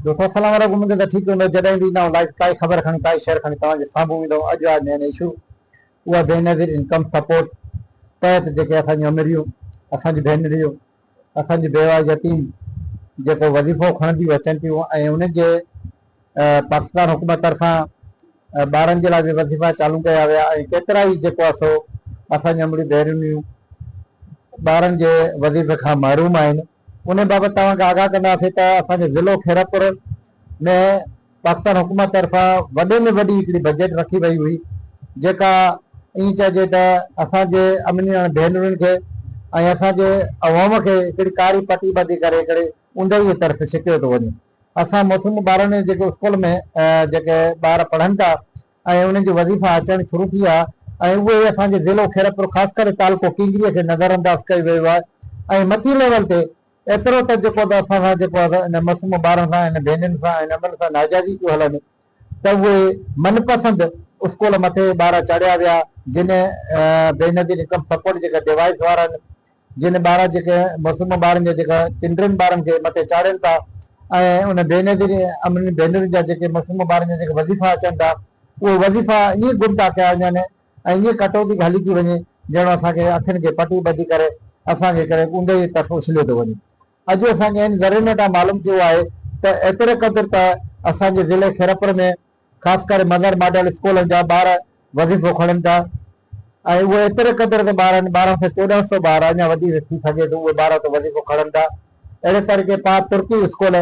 دوستو السلام عليڪم اميد ته ٺيڪ هوندو جڏهن به ايندا آهيون لائيو ڪائي خبر کڻي ڪائي شيئر کڻي توهان جي سامهون ايندو اڄ آهي مين اشو اها بي نظير انڪم سپورٽ تحت جيڪي اسان جون امريون اسان جون ڀينريون اسان جون بيوا يتيم جيڪو وظيفو کڻنديون اچن ٿيون ۽ انهن جي پاڪستان حڪومت طرفان ٻارن جي لاء به وظيفا چالو ڪيا ويا ۽ ڪيترا ئي جيڪو آهي سو اسان جون امريون ڀينريون ٻارن جي وظيفي کان محروم آهن انهي بابت توهان کي آگاهه ڪنداسين ته اسان جي ضلعو خيرپور ۾ پاڪستان حڪومت طرفان وڏي ۾ وڏي هڪڙي بجيٽ رکي وئي هئي جيڪا ائين چئجي ته اسان جي امڙنيڻ ڀينرن کي ۽ اسان جي عوام کي هڪڙي ڪاري پٽي ٻڌي ڪري هڪڙي اوندهي طرف ڇڪيو ٿو وڃي اسان موسوم ٻارن جيڪي اسڪول ۾ جيڪي ٻار پڙهن ٿا ۽ انهن جي وظيفا اچڻ شروع ٿي ويا ۽ اهي ئي اسان جي ضلعو خيرپور خاص ڪري تعلقو ڪينگريء کي نظر انداز ڪيو ويو آهي ۽ مٿين ليول تي ايترو ته جيڪو ته اسان سان جيڪو آهي ان معصوم ٻارن سان ان ڀينرين سان ان امڙن سان ناجائزي ٿيون هلن ته اهي من پسند اسڪول مٿي ٻارا چاڙهيا ويا جنهن بينظير انڪم سپورٽ جيڪا ڊيوائيس وارن جن ٻارا جيڪي معصوم ٻارن جا جيڪا چنڊرن ٻارن کي مٿي چاڙهين ٿا ۽ ان بي نظير امن ڀينرن جا جيڪي معصوم ٻارن جا جيڪي وظيفا اچن ٿا اهي وظيفا ائين گم ٿا ڪيا وڃن ۽ ائين ڪٽوتي گهلي ٿي وڃي ڄڻو اسان کي اکين کي پٽي ٻڌي ڪري اسان کي ڪنهن اوندهه جي طرف اڇليو ٿو وڃي. اڄ اسان کي هن ذريعن وٽان معلوم ٿيو آهي ته ايتري قدر ته اسان جي ضلعي خيرپور ۾ خاص ڪري مظهر ماڊل اسڪولن جا ٻار وظيفو کڻن ٿا ۽ اهي ايتري قدر تي ٻار آهن ٻارهن سئو چوڏهن سئو ٻار اڃا وڌيڪ ٿي سگهي ٿو اهي ٻار اتي وظيفو کڻن ٿا اهڙي طريقي پاء ترڪي اسڪول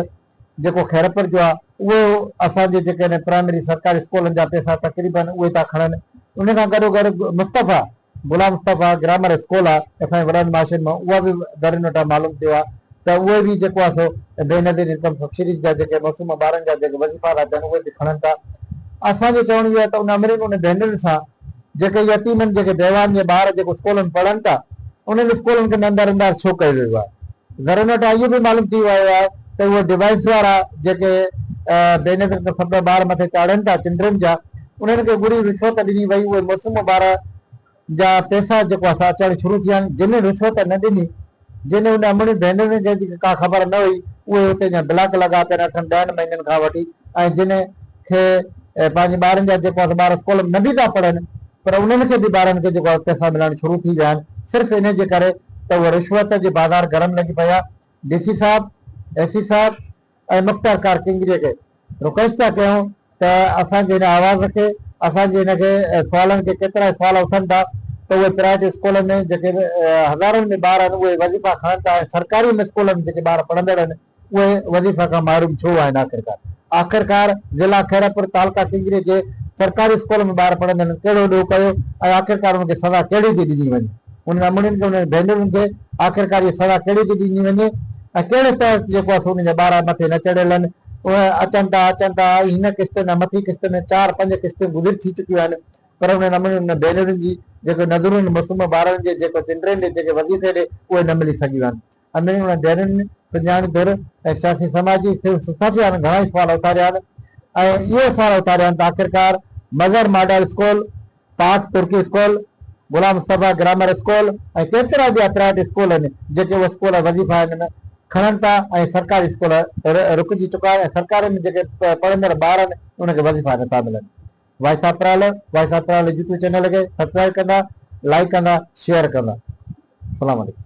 جيڪو خيرپور جو آهي اهو اسان جي جيڪي پرائمري سرڪاري اسڪولن جا پئسا تقريبن اهي ٿا کڻن ان سان گڏوگڏ مصطفيٰ ملا مصطفيٰ گرامر اسڪول آ ته اسان جي وڏن معاشين مان اها به ڌرين وٽان معلوم ٿيو آ ته اهي به جيڪو آ سو بينظير انڪم سبسڊيز جا جيڪي معصوم ٻارن جا جيڪي وظيفا ٿا ٿين اهي به کڻن ٿا اسان جو چوڻ اهو آ ته ان امرين ان ڀينرين سان جيڪي يتيمن جيڪي بيواهن جي ٻار جيڪو اسڪولن پڙهن ٿا انهن اسڪولن کي نندار اندار ڇو ڪيو ويو آ ڌرين وٽان اهو به معلوم ٿي ويو آ ته اهي ڊوائيس وارا جيڪي بينظير انڪم سبسڊيز جا ٻار مٿي چاڙهن ٿا چنڊرين جا انهن کي ٻري رشوت ڏني وئي اهي موسم ٻار جا پيسا جيڪو اسان اچڻ شروع ٿيا آهن جن رشوت نه ڏني جن ان امڙين ڀينرين جن کي ڪا خبر نه هئي اهي اتي جا بلاڪ لڳا پيا آهن اٺن ڏهن مهينن کان وٺي ۽ جن کي پنهنجي ٻارن جا جيڪو اسان ٻار اسڪول ۾ نه به ٿا پڙهن پر انهن کي به ٻارن کي جيڪو پيسا ملڻ شروع ٿي ويا آهن صرف انهي جي ڪري ته اهي رشوت جي بازار گرم لڳي پئي آهي ڊي سي صاحب اي سي صاحب ۽ مختيار ڪار ڪنگريء کي رڪويسٽ ٿا ڪيون ته اسان جي هن آواز کي، اسان جي هن کي سوالن کي ڪيترائي سوال اٿن ٿا ته اهي پرائيويٽ اسڪولن ۾ جيڪي هزارن ۾ ٻار آهن اهي وظيفا کڻن ٿا ۽ سرڪاري اسڪولن ۾ جيڪي ٻار پڙهندڙ آهن اهي وظيفا کان محروم ڇو آهن آخرڪار آخرڪار ضلع خيرپور تعلقه ڪنگريء جي سرڪاري اسڪول ۾ ٻار پڙهندڙن ڪهڙو ڏوهه ڪيو ۽ آخرڪار ان کي سزا ڪهڙي ٿي ڏني وڃي انهن امڙين کي انهن جي ڀينرن کي آخرڪار اها سزا ڪهڙي ٿي ڏني وڃي ۽ ڪهڙي تحت جيڪو آهي سو انهن جا ٻارا مٿي نه چڙهيل آهن اهي اچن ٿا اچن ٿا ۽ هن قسط ۾ مٿين قسط ۾ چار پنج قسطون گذري ٿي چڪيون آهن پر انهن امڙين انهن ڀينرن جي جيڪي نذرون معصوم ٻارڙن جي جيڪو چنڊرين ڏي جيڪي وظيفي ڏي اهي نه ملي سگهيون آهن امڙين انهن ڀينرن سڄاڻي ڌر ۽ سياسي سماجي سول سوسائٽي وارن گهڻا ئي سوال اٿاريا آهن ۽ اهي سوال اٿاريا آهن ته آخرڪار Mazhar model school Pak Turkey school, Ghulam Mustafa grammar school ۽ ڪيترا ٻيا پرائيويٽ اسڪول آهن جيڪي اهي اسڪول وظيفا هن ۾ کڻن ٿا ۽ سرڪاري اسڪول رڪجي چڪا آهن ۽ سرڪاري ۾ جيڪي پڙهندڙ ٻار آهن انهن کي وظيفا نه ٿا ملن voice of Paral voice of Paral YouTube channel کي سبسڪرائب ڪندا لائڪ ڪندا شيئر ڪندا السلام عليڪم